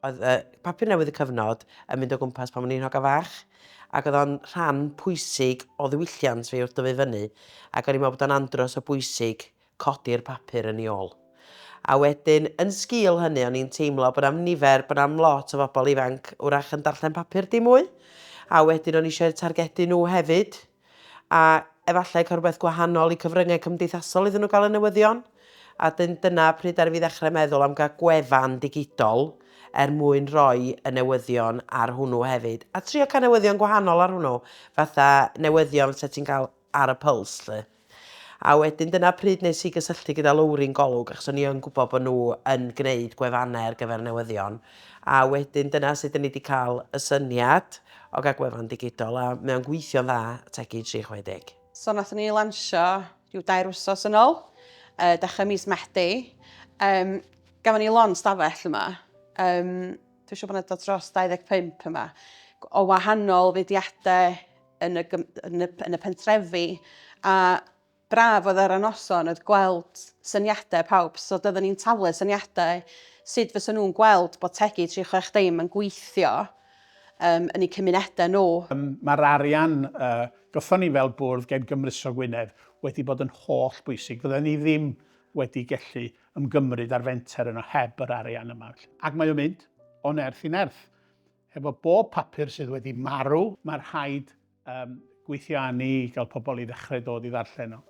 oedd y papur newydd y cyfnod yn mynd o gwmpas pan o'n i'n hoga fach, ac oedd o'n rhan pwysig o ddiwylliant fi wrth dyfu fyny, ac o'n i'n meddwl bod o'n andros o bwysig codi'r papur yn ei ôl. A wedyn, yn sgil hynny, o'n i'n teimlo bod am nifer, bod am lot o fobl ifanc wrach yn darllen papur dim mwy, a wedyn o'n i eisiau targedu nhw hefyd. a efallai cael rhywbeth gwahanol i cyfryngau cymdeithasol iddyn nhw gael y newyddion, a dyn, dyna pryd ddaru fi ddechrau meddwl am gael gwefan digidol er mwyn rhoi y newyddion ar hwnnw hefyd, a trio cael newyddion gwahanol ar hwnnw, fatha newyddion fysa ti'n cael ar y Pulse 'lly. A wedyn dyna pryd nes i gysylltu gyda Lowri'n Golwg, achos o'n i yn gwybod bod nhw yn gwneud gwefannau ar gyfer newyddion, a wedyn dyna sut dyn ni wedi cael y syniad. o gael gwefan ddigidol a mae o'n gweithio'n dda, Tegi 360. So nath ni lansio rhyw dair wsos yn ôl, uh, dechrau mis Medi. Um, gafon ni lon stafell yma. Um, Dwi'n siŵr bod yna dod dros 25 yma. O wahanol fudiadau yn y, yn y, yn y pentrefi. A Braf oedd ar y noson oedd gweld syniadau pawb, so doedden ni'n talu syniadau sut fysen nhw'n gweld bod Tegi 360 yn gweithio um, yn eu cymunedau nhw. Um, Mae'r arian uh, gyffon ni fel bwrdd gen Gymruso Gwynedd wedi bod yn holl bwysig. Fydden ni ddim wedi gellu ymgymryd ar fenter yno heb yr arian yma. Ac mae o'n mynd o nerth i nerth. Efo bob papur sydd wedi marw, mae rhaid um, gweithio â ni i gael pobl i ddechrau dod i ddarllen nhw.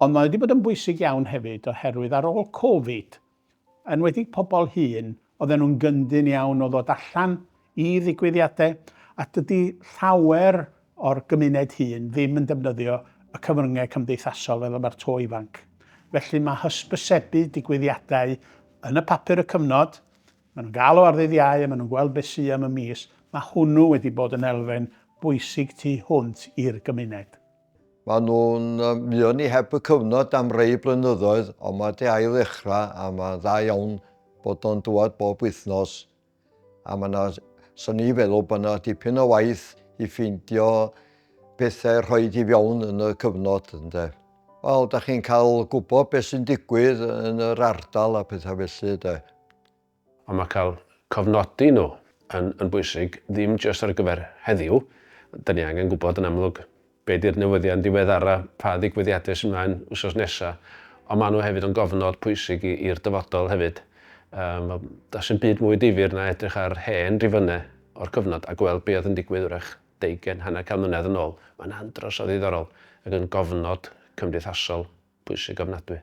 Ond mae wedi bod yn bwysig iawn hefyd oherwydd ar ôl Covid, yn wedi pobl hun, oedden nhw'n gyndyn iawn o ddod allan i ddigwyddiadau, a dydy llawer o'r gymuned hun ddim yn defnyddio y cyfryngau cymdeithasol fel y mae'r to ifanc. Felly mae hysbysebu digwyddiadau yn y papur y cyfnod, Maen nhw'n galw ar ddydd Iau a maen nhw'n gweld beth sy am y mis, mae hwnnw wedi bod yn elfen bwysig tu hwnt i'r gymuned. Maen nhw'n mynd i ni heb y cyfnod am rei blynyddoedd ond mae 'di ail ddechrau a mae'n dda iawn bod o'n dŵad bob wythnos a mae yna, so ni feddwl bod yna dipyn o waith i ffeindio pethau rhoed i fewn yn y cyfnod ynde. Wel, da chi'n cael gwybod beth sy'n digwydd yn yr ardal a pethau felly de. Ond mae cael cofnodi nhw yn yn bwysig, ddim jyst ar gyfer heddiw, da ni angen gwybod yn amlwg be di'r newyddion diweddara, pa ddigwyddiadau sy'n mlaen wsos nesa, ond maen nhw hefyd yn gofnod pwysig i i'r dyfodol hefyd. Yym wel, does dim byd mwy difyr na edrych ar hen rifynnau o'r cyfnod a gweld be oedd yn digwydd wrach deugain, hanner can mlynedd yn ôl, mae'n andros o ddiddorol ac yn gofnod cymdeithasol pwysig ofnadwy.